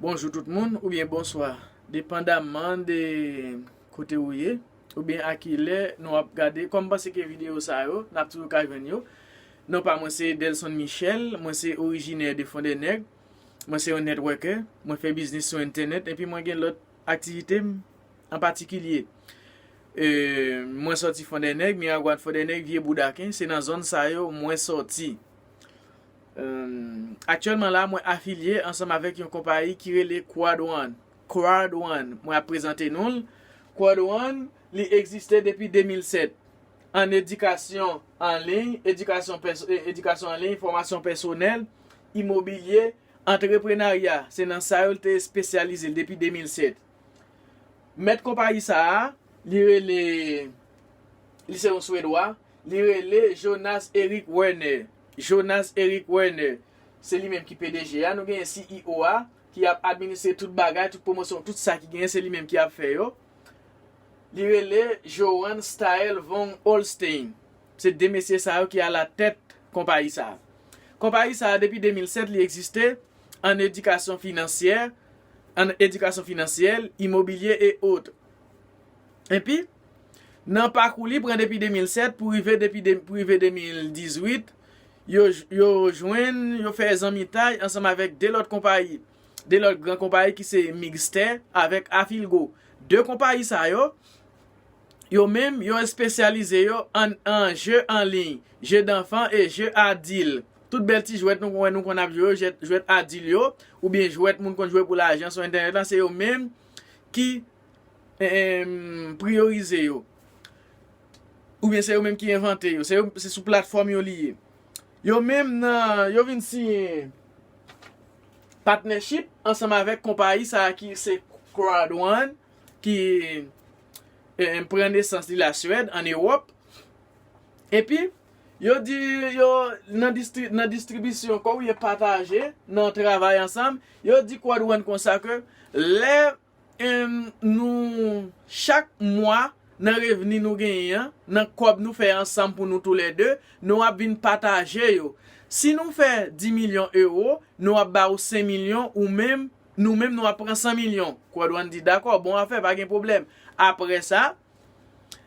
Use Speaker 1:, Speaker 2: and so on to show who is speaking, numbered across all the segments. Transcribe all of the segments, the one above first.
Speaker 1: Bonjou tout moun oubyen bonswa depandaman de kote ou ye oubyen a ki lè nou ap gade kòm panse ke videyo sa yo nap toujou ka jwenn yo non pa mwen se Delson Michel mwen se orijinè de Fondènèg mwen se yon netwòkè mwen fè biznis sou entènèt epi mwen gen lòt aktivite m an patikilye eee mwen sòti Fondènèg Miragwàn Fondènèg Vye Boudaken se nan zòn sa yo mwen sòti. Aktyèlman la, mwen afilye ansanm avèk yon konpayi ki rele Quad One, Crowd One, mwen ap prezante nou l. Quad One, li egziste depi 2007, an edikasyon an liy, edikasyon an liy, fòmasyon pèsonèl, imobilye, antreprenarya, se nan sa yo li te espesyalize l depi 2007. Mèt konpayi sa a, li rele, li se yon Swedwa, Li rele Jonas Eric Werner. Jonas Eric Werner. Se li menm ki pdg a. Nou genyen CEO a, ki ap administre tout bagay, tout pwomosyon, tout sa ki genyen, se li menm ki ap fè yo. Li rele Johan Staël Von Holstein. Se 2 mesye sa yo ki alatèt konpayi sa a. Konpayi sa a, depi 2007, li egziste ann edikasyon finansyè, ann edikasyon finansyèl, imobilye e otre. Epi, nan pakou li pran depi 2007 pou rive depi pou rive 2018, yo yo jwenn, yo fè zanmitay ansanm avèk 2 lòt konpayi, 2 lòt gran konpayi ki se Mixtè avèk Afilgo. 2 konpayi sa yo, yo menm yo espesyalize yo ann an je an liy, je danfan e je adil. Tout bèl ti jwèt nou konn wè nou konn ap jwe yo, jwèt adil yo, oubyen jwèt moun konn jwe pou lajan sou entènèt la, se yo menm ki. priyorize yo, oubyen se yo menm ki envante yo, se sou platfòm yo li ye. Yo menm nan, yo vin siyen patnèchip ansanm avèk konpayi sa a ki se Crowd One ki pran nesans li la Swèd, an Ewòp. Epi, yo di yo nan distribisyon kò oubyen pataje nan travay ansanm, yo di Crowd One konsa ke lè Humm nou chak mwa nan revni nou genyen an nan kòb nou fè ansanm pou nou tou lè 2 nou ap vin pataje yo si nou fè 10 milyon ewo nou ap ba ou 5 milyon ou menm nou menm nou ap pran 100 milyon Quadwan di dakò bon afè pa gen pwoblèm aprè sa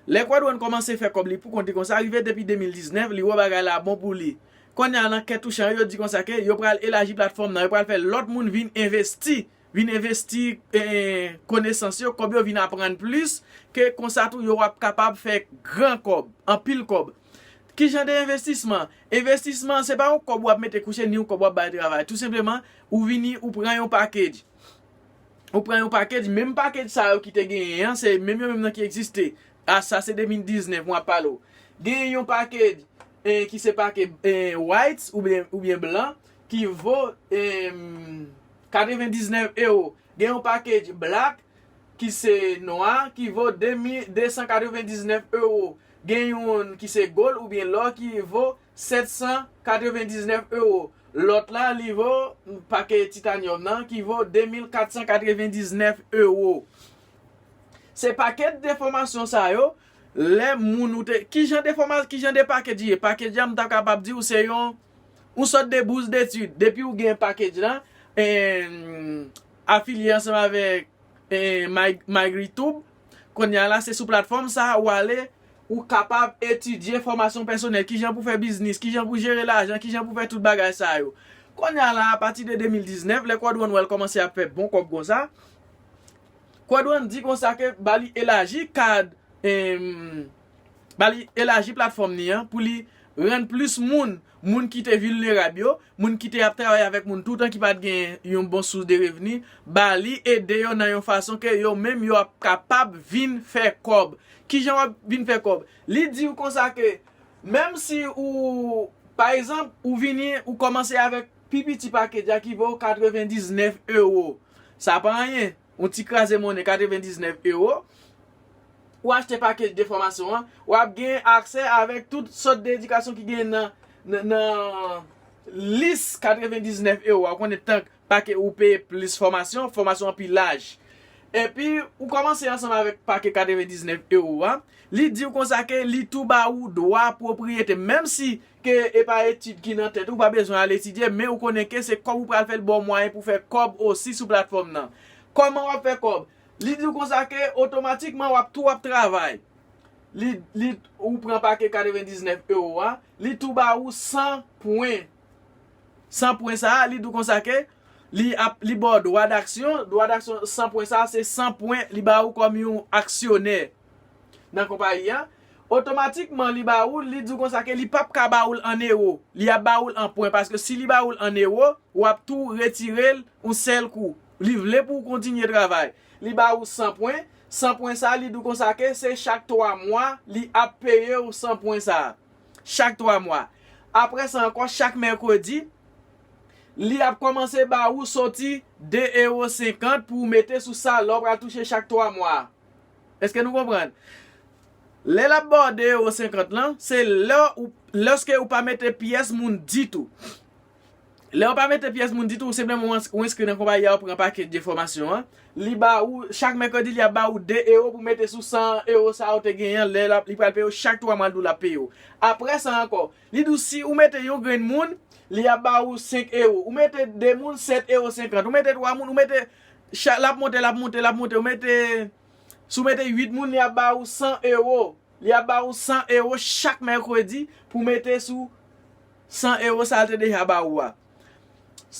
Speaker 1: lè Quadwan kòmanse fè kòb li pou kont li konsa rive depi 2019 li wè bagay la bon pou li konnya nan kè touchan yo yo di konsa ke yo pral elaji platfòm nan yo pral fè lòt moun vin envesti vin envesti konesans yo, kòb yo vin aprann plis, ke konsa tou yo ap kapab fè gran kòb, anpil kòb. Ki jan de envestisman? Envestisman se pa yon kòb ou ap mete kouche ni yon kòb ou ap bay travay. Tou senpleman, ou vini ou pran yon package. Ou pran yon package, menm package sa yo ki te genyen an, se menm yo menm nan ki egziste. A sa se 2019 mwen ap pale ou. Genyen yon package ki se package white oubyen blan, ki vo 99 ewo. Gen yon package black ki se nwa ki vo 2299 ewo. Gen youn ki se gold oubyen lò ki vo 799 ewo. Lòt la li vo package titanium nan ki vo 2499 ewo. Se package de fòmasyon sa yo lè moun ou te. Kijan de fòma, kijan de package li ye? Package la m ta kapab di ou se yon. Ou sòt de bous detid, depi ou gen package la, afilye ansanm avèk MyGritube, konnya la se sou platfòm sa ou ale, ou kapab etidye fòmasyon pèsonèl, kijan pou fè biznis, kijan pou jere lajan, kijan pou fè tout bagay sa yo. Konnya la a pati de 2019, lè Quadrone wè l kòmanse ap fè bon kòb konsa, Quadrone di konsa ke ba li elaji kad ba li elaji platfòm ni an pou li rann plis moun, moun ki te vilnerab yo, moun ki te ap travay avèk moun toutan ki pat gen yon bon sous de revni, ba li ede yo nan yon fason ke yo menm yo ap kapab vin fè kòb. Kijan wap vin fè kòb? Li di ou konsa ke menm si ou pa egzanp ou vini ou kòmanse avèk pi piti package a ki vo 99 euro. Sa pa anyen. Yon ti kraze monnen 99 ewo, ou achte pakej de fòmasyon an, w ap gen aksè avèk tout sòt de edikasyon ki gen nan lis 99 ewo a. Ou konnen tank pake ou peye plis fòmasyon, fòmasyon an pi laj. Epi, ou kòmanse ansanm avèk pake 99 ewo a, li di ou konsa ke li tou ba ou dwa pwopriyete. Menm si Ke e pa etid ki nan tèt ou, ou pa bezwen al etidye, men ou konnen ke se kòb ou pral fè li ba w mwayen pou fè kòb osi sou platfòm nan. Kòman w ap fè kòb? Li di w konsa ke otomatikman w ap tou ap travay. Li, li, ou pran pake 99 ewo a, li tou ba ou 100 pwen. 100 pwen sa a, li di w konsa ke li ap, li ba w dwa daksyon, dwa daksyon 100 pwen sa a se 100 pwen li ba ou kòm yon aksyonè. nan konpayi a, otomatikman li ba ou l, li di w konsa ke li p ap ka ba ou l an ewo, li ap ba ou l an pwen, paske si li ba ou l an ewo, w ap tou retire l yon sèl kou. Li vle pou w kontinye travay. Li ba ou 100 pwen, 100 pwen sa a li di w konsa ke se chak 3 mwa li ap peye w 100 pwen sa a. Chak 3 mwa. Apre sa ankò, chak mèkredi, li ap kòmanse ba ou soti 2 ewo 50 pou w mete sou sa lè w pral touche chak 3 mwa a. Eske nou konprann? Lè lap baw 2 euro 50 lan, se lè ou lèske ou pa mete pyès moun ditou. Lèw pa mete pyès moun ditou, ou senpleman ou enskri nan konpayi a ou pran pakej de fòmasyon an, li ba ou chak mèkredi li ap ba ou 2 euro pou mete sou 100 euro sa ou te genyen an, lè li pral peye ou chak 3 mwa l di w lap peye ou. Aprè sa ankò, li di w si ou mete yon grenn moun, li ap ba ou 5 euro, ou mete 2 moun 7 euro 50, ou mete 3 moun, ou mete. Chak lap monte lap monte lap monte ou mete si ou mete 8 moun li ap ba ou 100 euro li ap ba ou 100 euro chak mèkredi pou mete sou 100 euro sa te deja ba ou a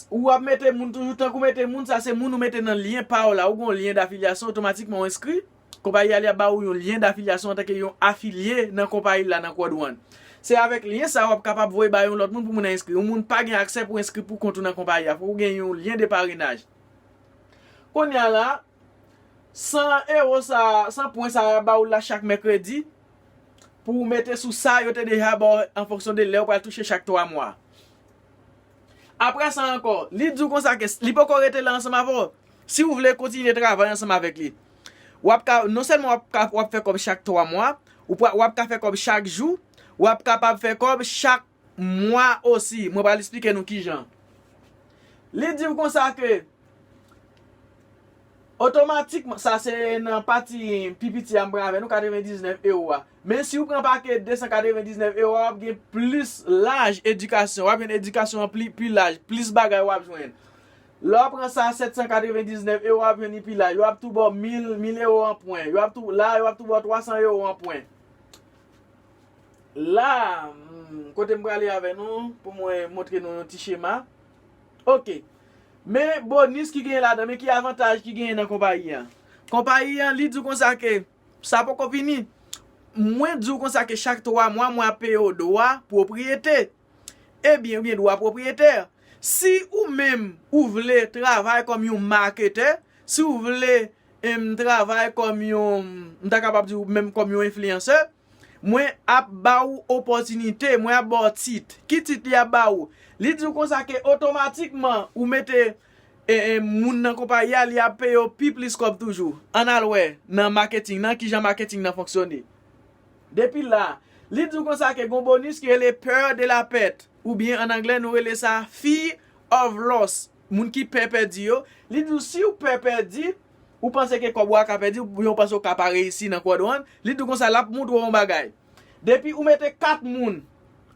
Speaker 1: ou ap mete moun toujou tank ou mete moun sa se moun ou mete nan lyen pa ou la ou gen yon lyen dafilyasyon otomatikman ou enskri. Konpayi a li ap ba ou yon lyen dafilyasyon antanke yon afilye nan konpayi l la nan Kòd One. Se avèk lyen sa a w ap kapab voye ba yon lòt moun pou moun nan enskri. Yon moun pa gen aksè pou enskri pou kont ou nan konpayi a. Fòk ou gen yon lyen de parenaj. Kounye a la, 100 ewo sa a, 100 pwen sa a y ap ba ou l la chak mèkredi pou ou mete sou sa yo te deja ba w an fonksyon de lè ou pral touche chak 3 mwa. Apre sa ankò, li di w konsa ke li poko rete la ansanm avè w, si w vle kontinye travay ansanm avèk li, w ap ka, non sèlman w ap fè kòb chak 3 mwa, w ap ka fè kòb chak jou, w ap kapab fè kòb chak mwa osi. Mwen pral esplike nou kijan. Li di w konsa ke, otomatikman, sa se nan pati pi piti a m pran avè nou, 99 ewo a. Men si ou pran pake 299 ewa wap gen plis laj edikasyon, wap jwenn edikasyon an pi laj, plis bagay wap jwenn. Lè wap pran sa 799 ewa wap jwenn li pi laj, yo ap tou baw 1000 ewo an pwen, yo ap tou, la yo ap tou baw 300 ewo an pwen. La, kote m prale avè nou, pou mwen montre nou yon ti chema. Ok, men bonis ki genyen ladan, men ki avantaj ki genyen nan konpayi an. Konpayi an li di w konsa ke. Sa poko fini. Mwen di w konsa ke chak 3 mwa mwen ap peye w dwa pwopriyete. Ebyen ou gen dwa pwopriyete. Si ou menm ou vle travay kòm yon maketè, si ou vle travay kòm yon, m ta kapab di w menm kòm yon enfliyansè, mwen ap ba ou opòtinite, mwen ap ba w tit. Ki tit li ap ba ou? Li di w konsa ke otomatikman ou mete E moun nan konpayi a li ap peye w pi plis kòb toujou. Ann al wè nan maketing nan kijan maketing nan fonksyone. Depi la, li di w konsa ke gon bonis ki rele peur de la perte oubyen ann anglè nou rele sa fear of loss, moun ki pè pèdi yo, li di w si w pè pèdi, ou panse ke kòb ou a ka pèdi oubyen ou panse ou ka pa reyisi nan kòd ou an, li di w konsa l ap moutre w yon bagay. Depi ou mete 4 moun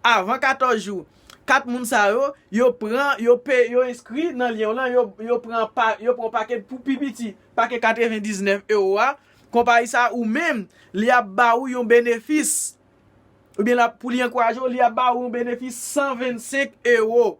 Speaker 1: avan 14 jou, 4 moun sa yo, yo pran, yo pe, yo enskri nan lyen w lan, yo pran pa, yo pran w pake pou pi piti, pake 99 ewo a, konpayi sa ou menm, li ap ba ou yon benefis, oubyen l ap, pou li ankouraje w, li ap ba ou yon benefis 125 ewo.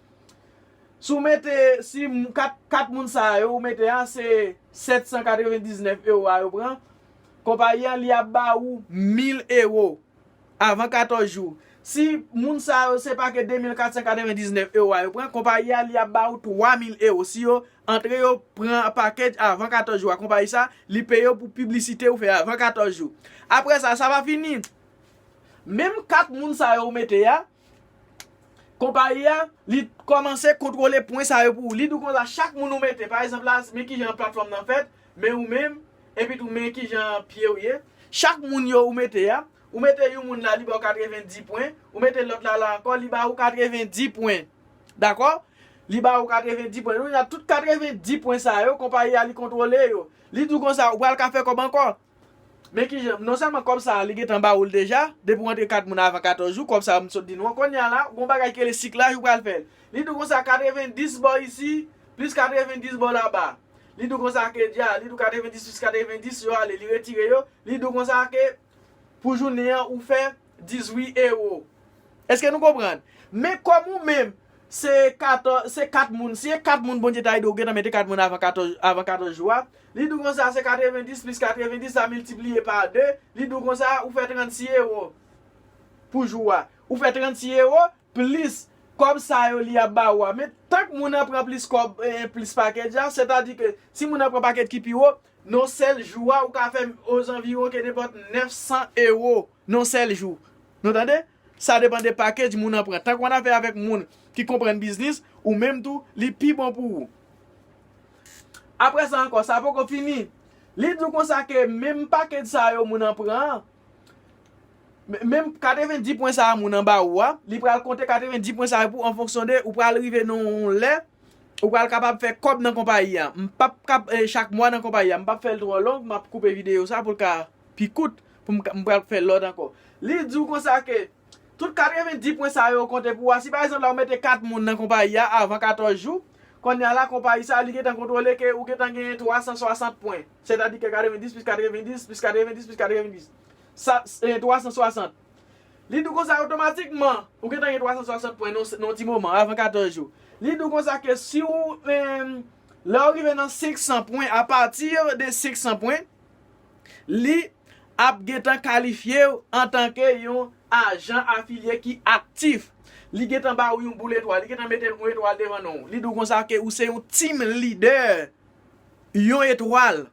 Speaker 1: Si w mete, si 4 moun sa yo ou mete a, se 799 ewo a yo pran, konpayi an li ap ba ou 1000 ewo avan 14 jou. Si moun sa yo se pake 2499 ewo a yo pran, konpayi an li ap ba ou 3000 ewo. Si yo antre yo pran pake avan 14 jou a, konpayi sa li peye yo pou piblisite ou fè avan 14 jou. Apre sa, sa pa fini. Menm 4 moun sa yo ou mete a, Konpayi a, li kòmanse kontwole pwen sa yo pou ou. Li di ou konsa, chak moun ou mete, pa egzanp la, men ki jan platfòm nan fèt, men ou menm, epi tou men ki jan pye ou ye. Chak moun yo ou mete a, ou mete yon moun la, li ba ou katrevendi pwen, ou mete lòt la la ankò, li ba ou katrevendi pwen. Dakò? Li ba ou katrevendi pwen. Kounye a, tout katrevendi pwen sa yo, konpayi a li kontwole yo. Li di ou konsa, ou pral ka fè kòb ankò. Men kijan, non sèlman kòb sa a li gentan ba ou l deja, depi w antre kat moun avan 14 jou, kòb sa a m sot di nou an, kounye a la, gon bagay ki rele siklaj ou pral fè l. Li di w konsa 90 bò isi, plis 90 bò laba. Li di w konsa ke dja, li di w 90 plis 90 yo ale, li retire yo, li di w konsa ke pou jounen an ou fè. 18 ewo. Eske nou konprann? Men kòm ou menm se 14, se 4 moun, si e 4 moun Bondye ta ede w gentan mete 4 moun avan 14, avan 14 jou a, li di w konsa se 90 plis 90 sa miltipliye pa 2, li di w konsa ou fè 36 ewo pou jou a. Ou fè 36 ewo plis kòb sa yo li ap ba ou a. Men tank moun nan pran plis kòb, plis pakèt la, sètadi ke si moun nan pran pakèt ki pi wo, nan yon sèl jou a ou ka fè ozanviwon ke nenpòt 900 ewo. non sèl jou nou tande sa depan de package moun an pran tank wan afè avèk moun ki konprann biznis ou menm tou li pi bon pou ou. Aprè sa ankò sa poko fini li di w konsa ke menm package sa yo moun an pran an menm 90 pwen sa moun an ba ou a li pral konte 90 pwen sa yo pou ou an fonksyon de ou pral rive nan yon lè ou pral kapab fè kòb nan konpayi a m pap kap chak mwa nan konpayi a m pap fè l twò long map koupe videyo sa pou l ka pi kout. pou m ka, m pral fè lòt ankò. Li di w konsa ke tout 90 pwen sa yo konte pou ou a, si pa egzanp la ou mete 4 moun nan konpayi a avan 14 jou, konnya la konpayi sa li gen tan kontwole ke ou gen tan genyen 360 pwen. Sètadi ke 90 plis 90 plis 90 plis 90 sa, 360. Li di w konsa otomatikman ou gen tan gen 360 pwen nan yon ti moman avan 14 jou. Li di w konsa ke si ou, lè ou rive nan 500 pwen, apati de 500 pwen, li ap gentan kalifye w antanke yon ajan afilye ki aktif. Li gentan ba ou yon boul etwal, li gentan mete yon etwal devan non ou. Li di w konsa ke ou se yon Team Leader, yon etwal.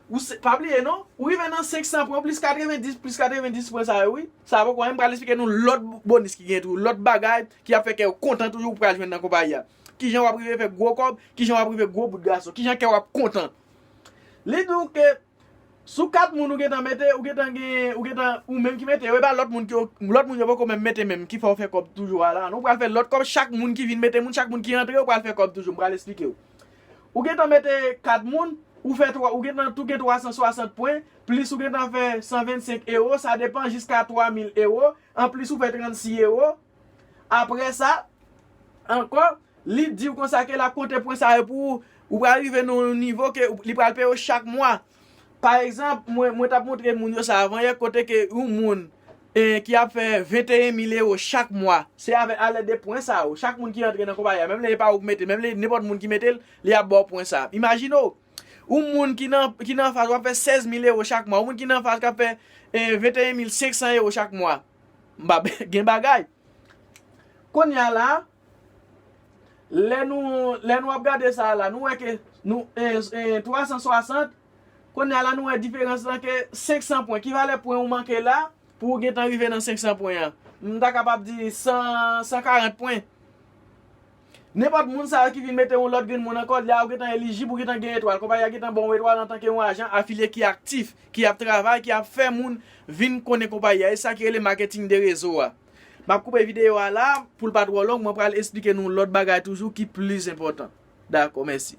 Speaker 1: Ou se, pa bliye non, ou rive nan 500 pwen, plis 90, plis 90 pwen sa yo wi. Sa poko anyen, m pral esplike nou lòt bonis ki gen tou, lòt bagay ki ap fè kè w kontan toujou ou pral jwenn nan konpayi a. Kijan w ap rive fè gwo kòb, kijan w ap rive gwo bout gason, kijan kè w ap kontan. Li di w ke sou 4 moun ou gentan mete, ou gentan gen, ou gentan ou menm ki mete yo, e pa lòt moun ke w, lòt moun yo poko menm mete menm, ki fè w fè kòb toujou a la. Nou pral fè lòt kòb, chak moun ki vin mete moun, chak moun ki antre yo pral fè kòb toujou. M pral esplike w. Ou gentan mete 4 moun, ou fè 3, ou gentan tou gen 360 pwen, plis ou gentan fè 125 ewo, sa depan jiska 3000 ewo, anplis ou fè 36 ewo, Apre sa, ankò, li di ou konsa ke l ap konte pwen sa yo pou ou. Ou pral rive nan yon nivo ke li pral peye ou chak mwa. Pa egzanp, mwen, mwen t ap montre moun yo sa avan yè, kote ke yon moun ki ap fè 21 mil ewo chak mwa, se avè alèd de pwen sa yo, chak moun ki antre nan konpayi a, menm lè e pa ou ki mete l, menm lè nenpòt moun ki mete l, li ap ba ou pwen sa a. Imajine w, yon moun ki nan, ki nan anfas ou ap fè 16 mil ewo chak mwa, yon moun ki nan anfas k ap fè 21 mil 500 ewo chak mwa. Mbap gen bagay. Konnya la lè nou lè nou ap gade sa a la nou wè ke nou e 360 konnya la nou wè diferans lan ke 500 pwen ki valè pwen ou manke la pou ou gentan rive nan 500 pwen an m ta kapab di 100 140 pwen. Nenpòt moun sa yo ki vin mete yon lòt grenn moun nan kòd li a, ou gentan elijib, ou gentan gen etwal. Konpayi a gentan ba w etwal antanke yon ajan afilye ki aktif, ki ap travay, ki ap fè moun vin konnen konpayi a. E sa ki rele maketing de rezo a. M ap koupe videyo a la a, pou l pa twò long, mwen pral esplike nou lòt bagay toujou ki plis enpòtan. Dakò, mèsi.